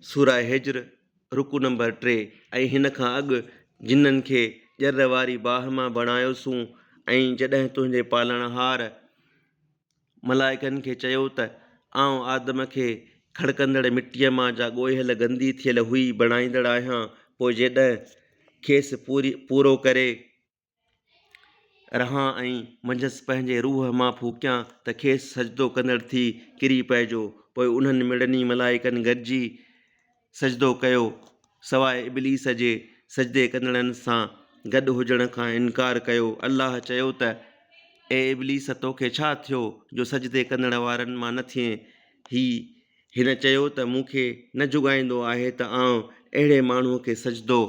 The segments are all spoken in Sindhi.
سوره هجر رڪوع نمبر ٽي ۽ هن کان اڳ جنن کي ڄر واري باهه مان بڻايوسون ۽ جڏهن تنهنجي پالڻهار، ملائڪن، کي چيو ته آئون آدم کي کڙڪندڙ مٽيء مان جا ڳوهيل گندي ٿيل هئي بڻائيندڙ آهيان پوء جيڏهن کيس پورو ڪري رهان ۽ منجهس پنهنجي روح مان ڦوڪيان ته کيس سجدو ڪندڙ ٿي ڪري پئجو. پوء انهن مڙني ملائڪن گڏجي سجدو ڪيو، سواء ابليس جي سجدي ڪندڙن سان گڏ هجڻ کان انڪار ڪيو. الله چيو ته، اي ابليس توکي ڇا ٿيو جو سجدي ڪندڙ وارن مان نه ٿئين؟ هي هن چيو ته مون کي نه جوڳائيندو آهي ته آئون اهڙي ماڻهوء کي سجدو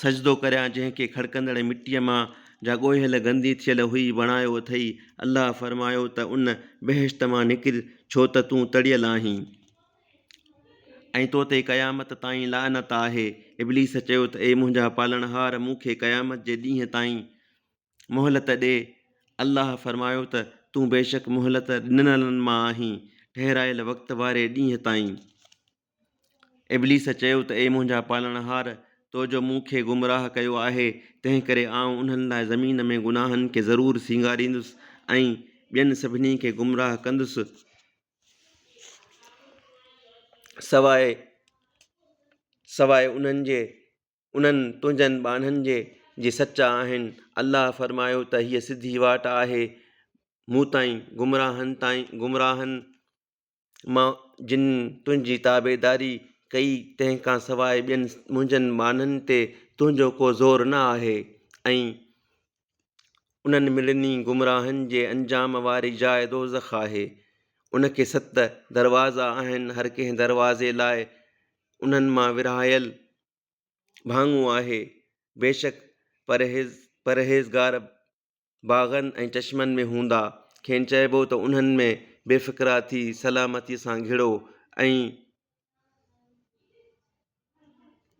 سجدو ڪريان جنهن کي کڙڪندڙ مٽيء مان جا ڳوهيل گندي ٿيل هئي بڻايو اٿئي الله فرمايو ته ان، بهشت، مان نڪر ڇو ته تون تڙيل آهين ۽ تو تي قيامت تائين لعنت آهي ابليس چيو ته اي منهنجا پالڻهار مون کي قيامت جي ڏينهن تائين. مهلت ڏي، الله فرمايو ته، تون بيشڪ مهلت ڏنلن مان آهين، ٺهرايل وقت واري ڏينهن تائين. ابليس چيو ته اي منهنجا پالڻهار! تو جو مون کي گمراهه ڪيو آهي، تنهنڪري آئون انهن لاء زمين ۾ گناهن کي ضرور سينگاريندس ۽ ٻين سڀني کي گمراهه ڪندس سواء سواء انهن جي، انهن، تنهنجن، ٻانهن جي جي سچا آهن، الله فرمايو ته هيء سڌي واٽ آهي مون تائين، گمراهن تائين، گمراهن مان جن تنهنجي تابعداري ڪئي تنهن کان سواء ٻين، منهنجن، ٻانهن تي تنهنجو ڪو زور نه آهي ۽ انهن ملني گمراهن جي انجام واري جاء دوزخ آهي. ان کي ست دروازا آهن، هر ڪنهن دروازي لاء انهن مان ورهايل ڀاڱو آهي. بيشڪ پرهيز پرهيزگار باغن ۽ چشمن ۾ هوندا. کين چئبو ته انهن ۾ بي فڪرا ٿي سلامتيء سان گهڙو ۽.